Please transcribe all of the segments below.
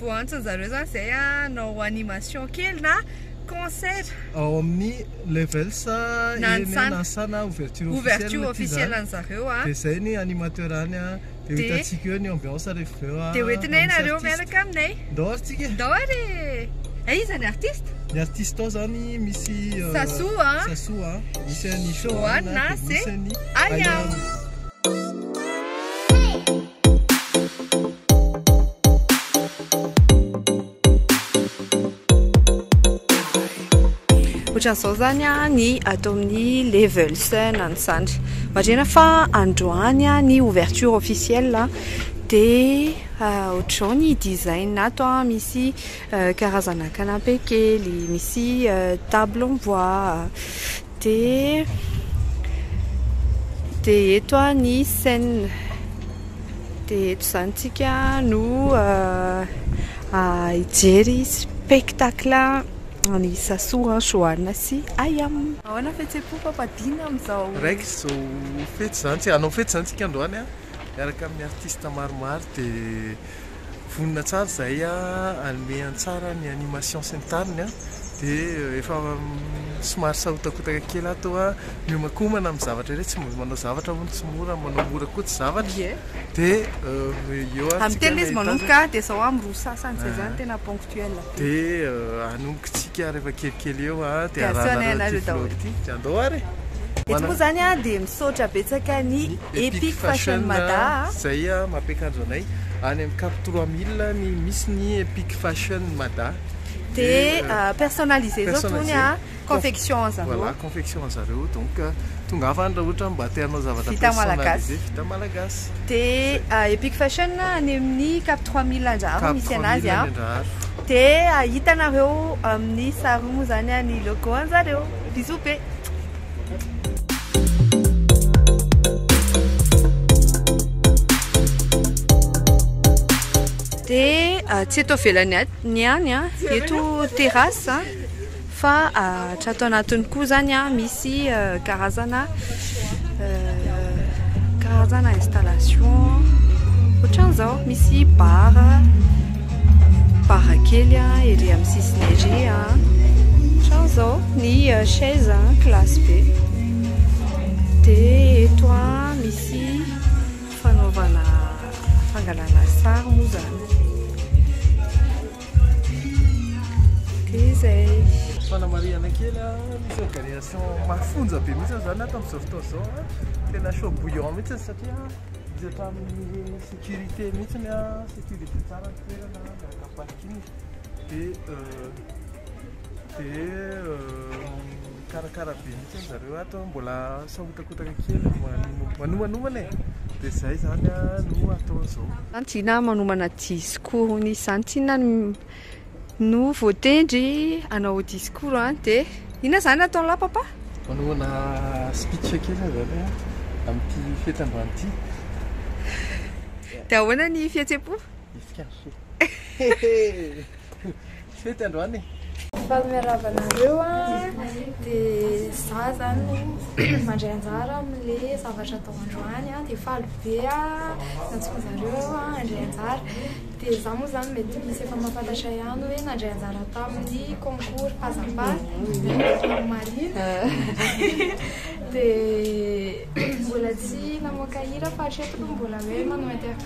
vao antson zareo zany zay hanao animation kely na concert ao amin'ny levels Nanisana Nanisana ouverture officielle ouverture officielle an'i zareo dia zay ny animateur any dia hitantsika eo ny ambiance rehefa avy eo dia ho entinay ianareo miaraka aminay ndao ary tsika ndao ary e iza ny artiste ny artiste ao zany misy Sassou a Sassou a misy an'i Johanna dia misy an'i Ayam ohatran'izao zany a ny ato amin'ny levels na ny sandry marena fa androany a ny ouverture officielle de ah, ohatr'izao ny design ato a misy euh, karazana canapé kely misy euh, table en bois Dia dia eto ny scène. Dia eto izany tsika no hijery spectacle an'i Sasoa, Johanna sy Ayam. Ahoana fihetseham-po fampadiana amin'izao? Raiky izao fety izany tsika, hanao fety izany tsika androany miaraka amin'ny artiste maromaro dia. vonona tsara izay hanome an-tsara ny animation sy ny tariny an, dia efa somary sahotakotaka kely aho toa miomankomana amin'ny zavatra irery, tsy mbola manao zavatra hono tsy mora, manao mora koa tsy zavatra, dia eo ary tsika nahita azy. Amin'ny telo izy manomboka dia sao aho miroso sasany, izay izany tena ponctuel. Dia hanomboka isika rehefa kelikely eo a, dia arahana anareo ity vlog ity, dia andao ary e! Eto moa izany a, dia misaotra betsaka ny Epic Fashion Mada a, izay mampiakanjo anay any amin'ny cap trois mille ny misy ny Epic Fashion Mada, dia personnalisez-zao tony a. Confection an zareo. Voilà, confection an zareo. Donc, tongava any raha ohatra mba te hanao zavatra personnalisé. Vita malagasy. Vita malagasy. Dia Epic Fashion any amin'ny Cap 3000 Andraharo misy anazy an. Cap 3000 Andraharo. Dia hitanareo amin'ny sary moa izany an ny logo an zareo. Bisous be. Dia tsy eto ivelany ihany an, eto terrasse an. Fa hatrato anatiny koa zany misy karazana karazana installation ohatran'izao misy bar bar kely ery amin'ny sisiny ery ohatran'izao ny chaise classe be dia eto misy fanaovana fangalana sary moa zany Dia zay. Fanamarihana kely a, misy organisation mafonja be mihitsy zany ato amin'izao fotoana izao a, tena chaud bouillant mihitsy ny satria misy hatramin'ny sécurité mihitsy a, sécurisé tsara ny toerana miaraka amin'ny parking dia dia Mikarakara be mihitsy zareo ato, mbola sahotakotaka kely manomanomana e, dia izay izany no atao izao. Izany tsy inona manomana discours izany, tsy inona no voatendry hanao discours an, dia inona izany ataon'i lahy papa? Manomana speech kely izany amin'ity fihetseham-bano ity. Dia ahoana ny fihetseham-po? Hetsika ny fo. Fety androany e! Faly miarahaba anareo a! Dia za zany mandray anjara amin'le zavatra atao androany a, dia faly be a nantsoin'zareo aho handray anjara. Dia za moa zany mety misy efa mahafantatra ihany hoe nandray anjara tamin'ny concours Pazapa Lieutenant Marine. Dia mbola tsy namoaka hira fa hatreto aloha mbola hoe manao interview.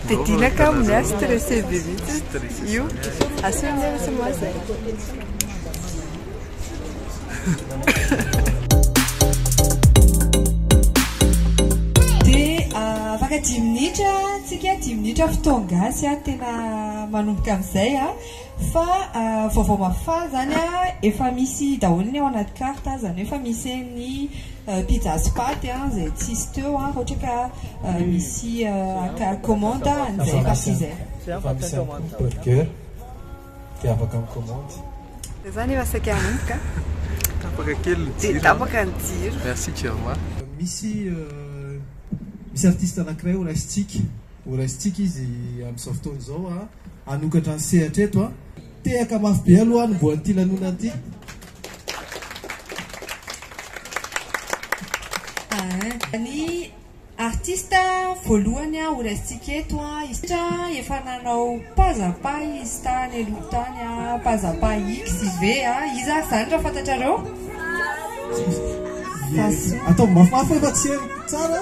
Fidina ka amin'ny ahy stressé be mihitsy io. Asio ny ahy tsy mahazo. Afaka dimy minitra tsika, dimy minitra fotoan-gasy, tena manomboka amin'izay. Fa vaovao mahafaly zany a, efa misy daholo ny ao anaty carte a, zany hoe efa misy eny ny pizza sy paty a, zay tsisy teo a, raha ohatra ka misy haka commande an'izay partie izay. Efa misy ihany koa ny burger dia afaka mi-commande. Dia zany efa saika hanomboka a. Tapaka kely ny jiro. Dia tapaka ny jiro. Merci Germain. Misy misy artiste anankiray ho raisintsika. Ho raisintsika izy amin'izao fotoana izao hanokatra ny sehatra eto. Tehaka mafy be aloha aho ny voan'ity lanonana ity. Ny artista voalohany ho raisintsika eto, efa nanao Pazapa izy tany aloha tany, Pazapa XV, iza ary izany raha fantatrareo? Ataovy mafimafy hoe fa tsy heno tsara.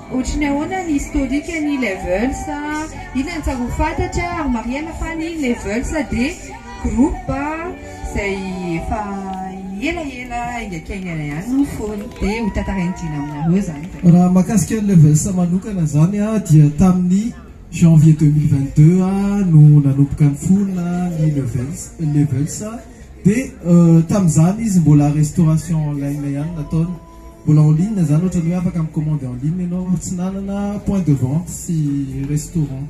Ohatry ny ahoana ny historique ny levels a? Ina ny tsara ho fantatra ary marihana fa ny levels dia groupe izay efa elaela aingaikaingana ihany no mifono dia ho tantarain'i Dina aminareo izany dia. Raha mahakasika ny levels manokana izany a dia tamin'ny janvier deux mille vingt deux a no nanomboka nifono ny levels levels dia tamin'izany izy mbola restauration en ligne ihany nataony. Mbola en ligne zany ohatrany hoe afaka mi-commande en ligne ianao raha tsy nanana point de vente sy restaurant.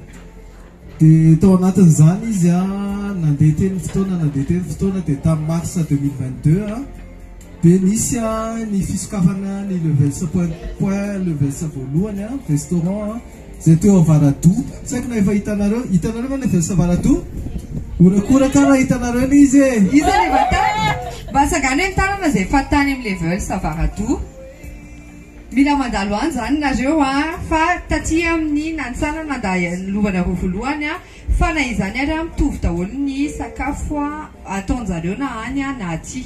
Dia tao anatin'izany izy an, nandeha teny ny fotoana, nandeha teny ny fotoana dia tamin'ny mars 2022 an, dia nisy an ny fisokafana ny levels point point levels voalohany an, restaurant an. Zay teo avaradoha tsy haiko na efa hitanareo hitanareo va le vs avaradoha horakoraka ra hitanareo le izy e iza le vatany mba asagano eny tanana zay efa tany am le vs avaradoha mila mandalo any zany nareo a fa taty aminy nantsana nanda lovana roa volohany a Fa na izany ary an, mitovy daholo ny sakafo ataonjareo na any na aty.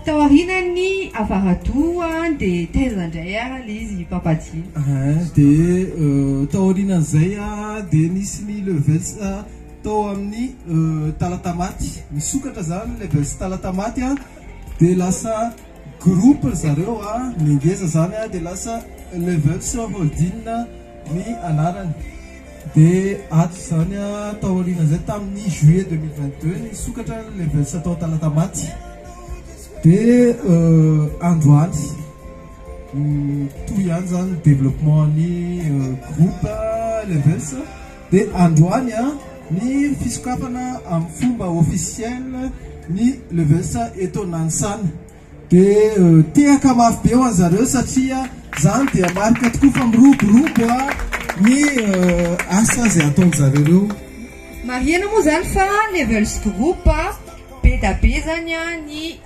Tao aorianan'ny avaradoha dia taiza indray ary le izy i Papa Jin. Ahh dia tao aorianan'izay dia nisy ny levels tao amin'ny Talatamaty, nisokatra zany ny levels Talatamaty an, dia lasa groupe ry zareo ny ngeza zany dia lasa levels Holding ny anarany. Dia ato izany taorian'izay tamin'ny juillet deux mille vingt deux nisokatra ny Levels tao Talatamaty dia androany toy ihany izany ny développement ny groupe Levels dia androany ny fisokafana amin'ny fomba officiel ny Levels eto Nanisana. Dia tehaka mafy be ho an'zareo satria zany dia marika tokoa fa miroborobo ny asa izay ataon'zareo reo. Marihina moa zany fa Levels Group be da be zany ny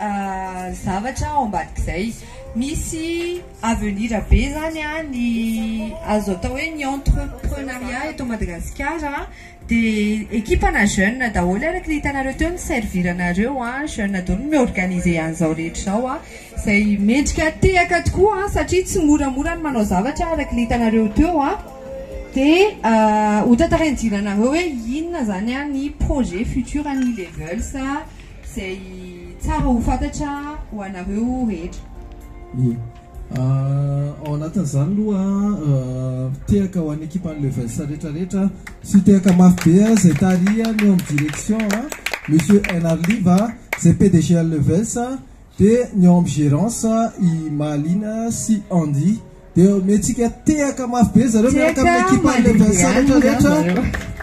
zavatra ao ambadik'izay. Misy avenir be zany ny azo atao hoe ny entreprenariat eto Madagasikara. Dia ekipa na jeune daholo araka ilay hitanareo teo ny servir anareo a, jeune daholo no mi-organiser an'izao rehetra izao a, izay mendrika tehaka tokoa a, satria tsy moramora ny manao zavatra araka ilay hitanareo teo a, dia ho tantarain'i Jly anareo hoe inona izany ny projet futur an'ny Ilevels a, izay tsara ho fantatra ho anareo rehetra. Ao anatin'izany aloha tehaka ho an'ny ekipan'ny Levels rehetrarehetra sy tehaka mafy be izay tarihany eo amin'ny direction a Monsieur NR Liva izay PDG an'ny Levels dia ny eo amin'ny gérance i Mahalina sy Andy dia omentsika tehaka mafy be zareo miaraka amin'ny ekipan'ny Levels rehetrarehetra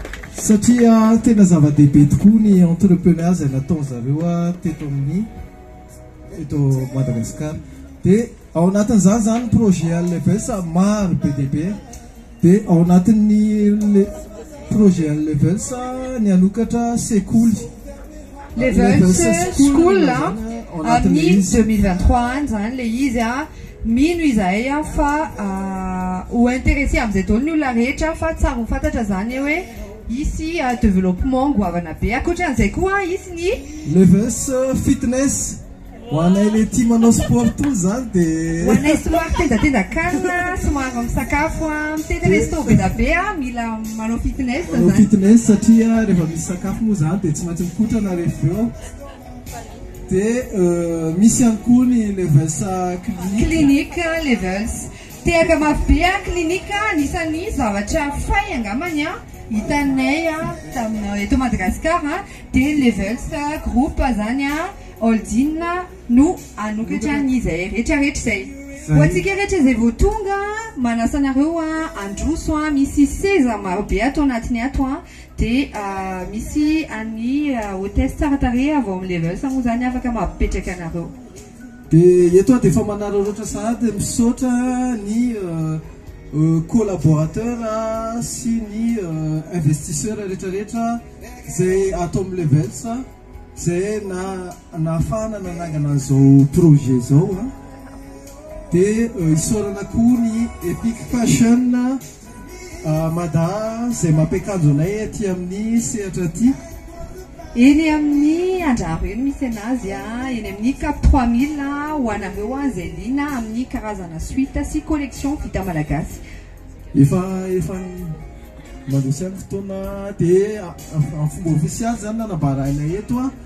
satria tena zava-dehibe tokoa ny entrepreneur izay nataony zareo teto amin'ny eto Madagascar de ao anatin'izany zany projet Alevels maro be dia be de ao anatin'ny le projet Alevels ny hanokatra sekoly Levels school amin'ny 2023 any zany le izy a mino izahay a fa ho intéressé amin'izay daholo ny olona rehetra fa tsary ho fantatra zany hoe Hisy developpement goavana be. Ankoatran'izay koa hisy ny. Levels fitness. Ho anay le tia manao sport tony zany de. Ho anay somary tendatendan-kanina, somary misakafo mitety resto be da be a, mila manao fitness zany. Manao fitness satria rehefa misy sakafo moa zany de tsy maintsy mikotrana rehefa avy eo. Dia misy ihany koa ny levels clinic. Clinic levels. Tehaka mafy be an clinic a, anisan'ny zavatra fay angamba ny an hitanay an tamin'ny eto Madagascar an dia ny levels groupe zany an holding no anokatra ny izay rehetra rehetra izay. Ho antsika rehetra izay vao tonga an manasa anareo an handroso an misy seza maro be ato anatiny ato an dia an misy an'ny hotesse tsara tarehy avy ao amin'ny levels moa zany afaka mampipetraka anareo. Dia eto aho dia efa manararaotra sahady misaotra ny collaborateur sy ny investisseur rehetrarehetra izay ato amin'ny Levels izay nahafahana nanangana an'izao projet izao dia isaorana koa ny Epic Fashion Mada izay mampiakanjo anay aty amin'ny sehatra aty. Eny amin'ny Andraro eny misy anazy a, eny amin'ny Cap 3000 ho anareo a izay liana amin'ny karazana suite sy collection vita malagasy. Efa efa mandroso ihany ny fotoana dia amin'ny fomba ofisialy izany nanambarainay eto a.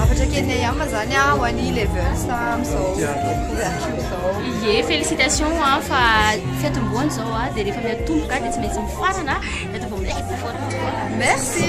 Hafatra kely ny ayama zany ho any levels amzao ouverture zao. Ye, félicitations an fa fiatombohana izao an dia rehefa miatomboka dia tsy maintsy mifarana dia ato vao milaika. Merci.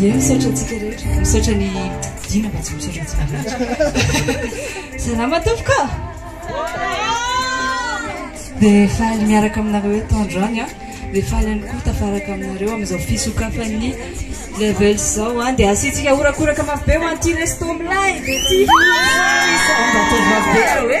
Ie misaotra antsika rehetra. Misaotra ny Dina mba tsy misaotra antsika rehetra. Salama tompoko a. Dia faly miaraka aminareo eto androany a. Dia faly ihany koa tafaraka aminareo amin'izao fisokafan'ny level zao a. Dia asiantsika horakoraka mafy be ho an'ity resto milay be ity. Mba ataovy mafy be raha hoe.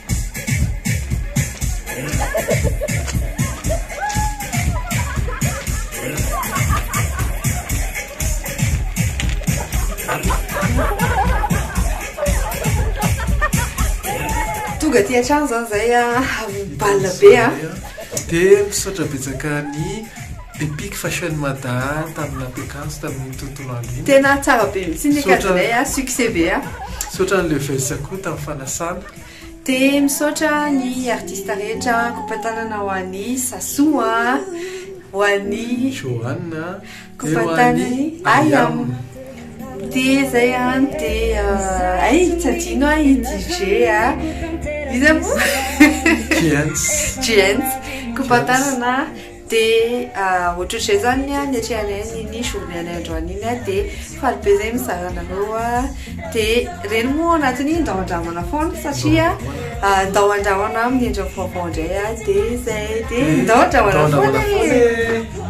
tonga ty hatrany zany zay a ah, bal be a ah. dia misaotra betsaka ny epic fashion mada tamin'ny lapekanso tamin'ny tontolo andro iny tena tsara be mihitsy ny kajinay a ah, succès be a misaotra an'le vesa koa tamin'ny fanasana Dia misaotra ny artista rehetra Kopatanana ho an'i Sasou a Ho an'i Johanna Kopatanany Ayam Dia izay a Dia ay tsy adino a i DJ a Iza moa Jens Jens Kopatanana Dia ohatrohatr'izay izany ny niatrehanay an'iny journée anay androany iny dia faly be izay mizara anareo dia ireny moa ao anatin'iny ndao handramana foana satria ndao handramana amin'ny endriny vaovao indray dia izay dia ndao handramana foana e